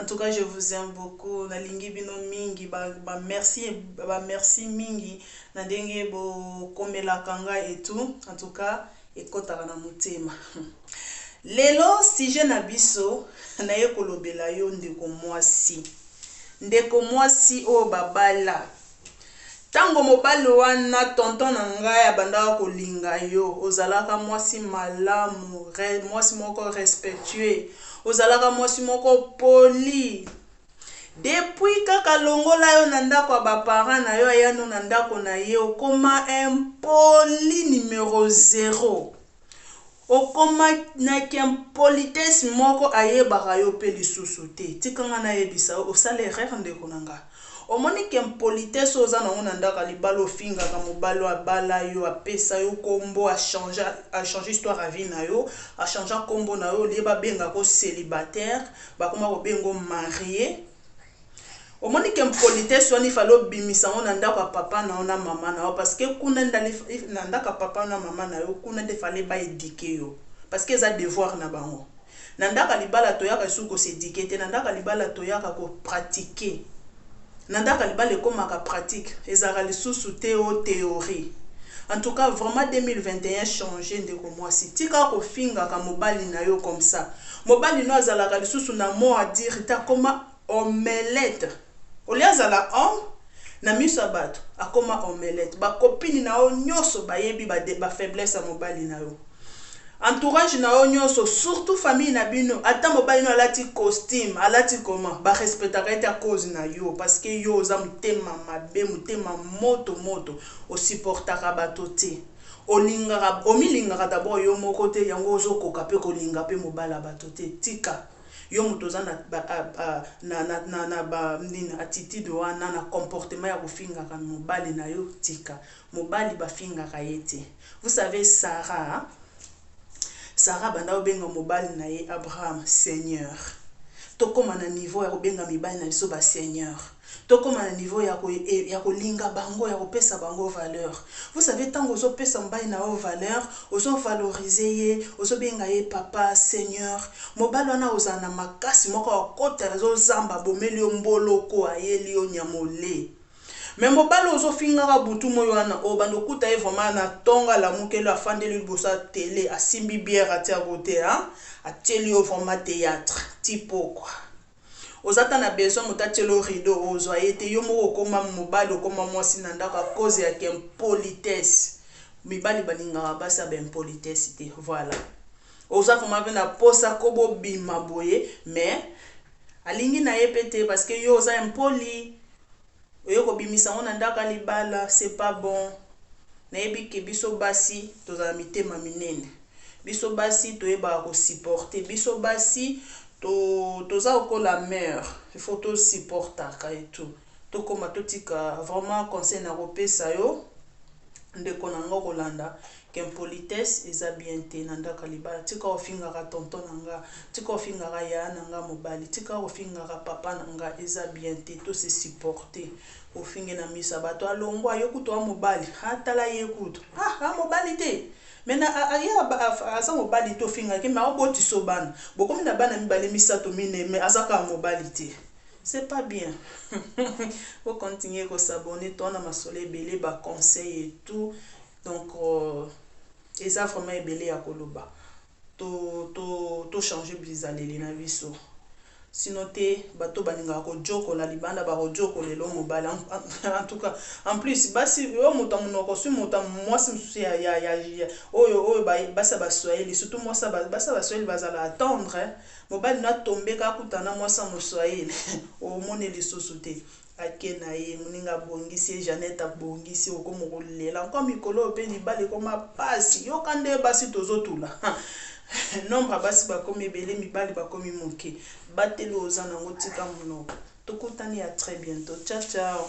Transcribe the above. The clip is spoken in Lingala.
En tout cas je vous aime beaucoup na lingi bino mingi ba ba merci ba merci mingi na ndenge bo komelaka nga et tout en tout cas ekotaka na motema lelo sujet na biso naye kolobela yo ndeko mwasi ndeko mwasi oyo babala Tango mobali wana tonton na ngai abandaka kolinga yo ozalaka mwasi malamu mwasi moko respectueux ozalaka mwasi moko poli depuis kaka alongola yo na ndako ya ba parents na yo aya no na ndako na ye okoma impoli numero zero. Okoma na ki impolitesse moko ayebaka yo pe lisusu te. Tika nga nayebisa yo osali erreur ndeko na nga. Omoni ki impolitesse oyo oza na yango na ndako ya libala ofingaka mobali oyo abala yo, apesa yo kombo, a change, a change histoire ya vie na yo, a changea kombo na yo au lieu babengaka yo celibataire bakoma kobenga yo mariee. Omoni k'impolitesse wana il fallait obimisa yango na ndako ya papa na yo na maman na yo parce que kuna nde na ndako ya papa na maman na yo kuna nde fallait ba eduquer yo parce que eza devoir na bango. Na ndako ya libala toyaka lisusu ko s'eduquer te na ndako ya libala toyaka ko pratiquer na ndako ya libala ekomaka pratique ezalaka lisusu te o theorie en tout cas vraiment 2021 changer ndeko mwasi tika kofingaka mobali na yo comme ça. Mobali no azalaka lisusu na mot à dire te akoma omelette au lieu azala homme na miso ya batu akoma omelette ba copine na yo nioso bayebi ba faiblesse ya mobali na yo entourage na yo nioso surtout famille na bino ata mobali no alati costume alati comment ba respectaka ye te à cause na yo parce que yo oza motema mabe motema moto moto o supportaka batu te. Olingaka omilingaka d'abord yo moko te yango ozo koka pe kolinga pe mobali ya bato te tika yo moto oza na na na ba nini attitude wana na comportement ya kofingaka mobali na yo tika mobali ba fingaka ye te vous savez Sarah Sarah abanda kobenga mobali na ye Abraham seigneur tokoma na niveau ya kobenga mibali na biso ba seigneur Tokoma na niveau yako yako linga bango yako pesa bango valeur vous savez tango ozo pesa mobali na yo valeur ozo valorise ye ozo benga ye papa seigneur mobali wana akozala na makasi moko akokota nazo zamba abomeli yo mboloko ayeli yo nyamole mais mobali ozo fingaka butu moyi wana obanda okuta ye vraiment na tongo alamukeli yo afandeli yo liboso ya tele asimbi bière atia cote hein atieli yo vraiment theatre ti pokwa. Oza ata na besoin moto atiela yo rideau ozua ye te, yo moko okoma mobali okoma mwasi na ndako à cause ya ki impolitesse, mibali balingaka basi ya ba impolitesse te voilà oza vraiment pe na posa ko bo bima boye mais alingi na ye pe te parce que yo oza impoli. oye kobimisa ngo na ndako ya libala c'est pas bon nayebi que biso basi tozala mitema minene biso basi toyebaka ko supporte biso basi to toza lokola mur il faut to supportaka et tout tokoma totika vraiment conseil na kopesa yo ndeko na nga okolanda Impolitesse eza bien te na ndaku ya libala tika ko fingaka tonton na nga tika ko fingaka yaya na nga mobali tika ko fingaka papa na nga eza bien te to se supporte o fingi na misu ya batu a longua yo kutu oa mobali ha tala ye kutu ah a mobali te mais na ye aza mobali te o fingaka ye mais ao botisa yo bana bo komi na bana mibale misatu mineyi mais aza kaka mobali te c'est pas bien bo continue ko s'abonner toa na masolo ebele ba conseil et tout Donc eza vraiment ebele ya koloba to to to changer blizaleli na biso sinon te bato oyo balingaka kojokola libanda bakojokola elo mobali en tout cas en plus basi oyo moto ya monoko swi moto ya mwasi mosusu ya, ya, ya, ya oyo oyo ba, basi ya baswahili surtout mwasi ba, basi ya baswahili bazala attendre mobali na tombe kakutana mwasi ya moswahili omoni lisusu te Ake na ye, moninga abongisi ye, Jeannette abongisi, okoma ko lela encore mikolo oyo pe libala ekoma pasi, yoka nde basi tozo tula hum nombre ya basi bakomi ebele mibali bakomi muke, batela oyo oza nango tika munoko, tokutani a très bientot ciao ciao.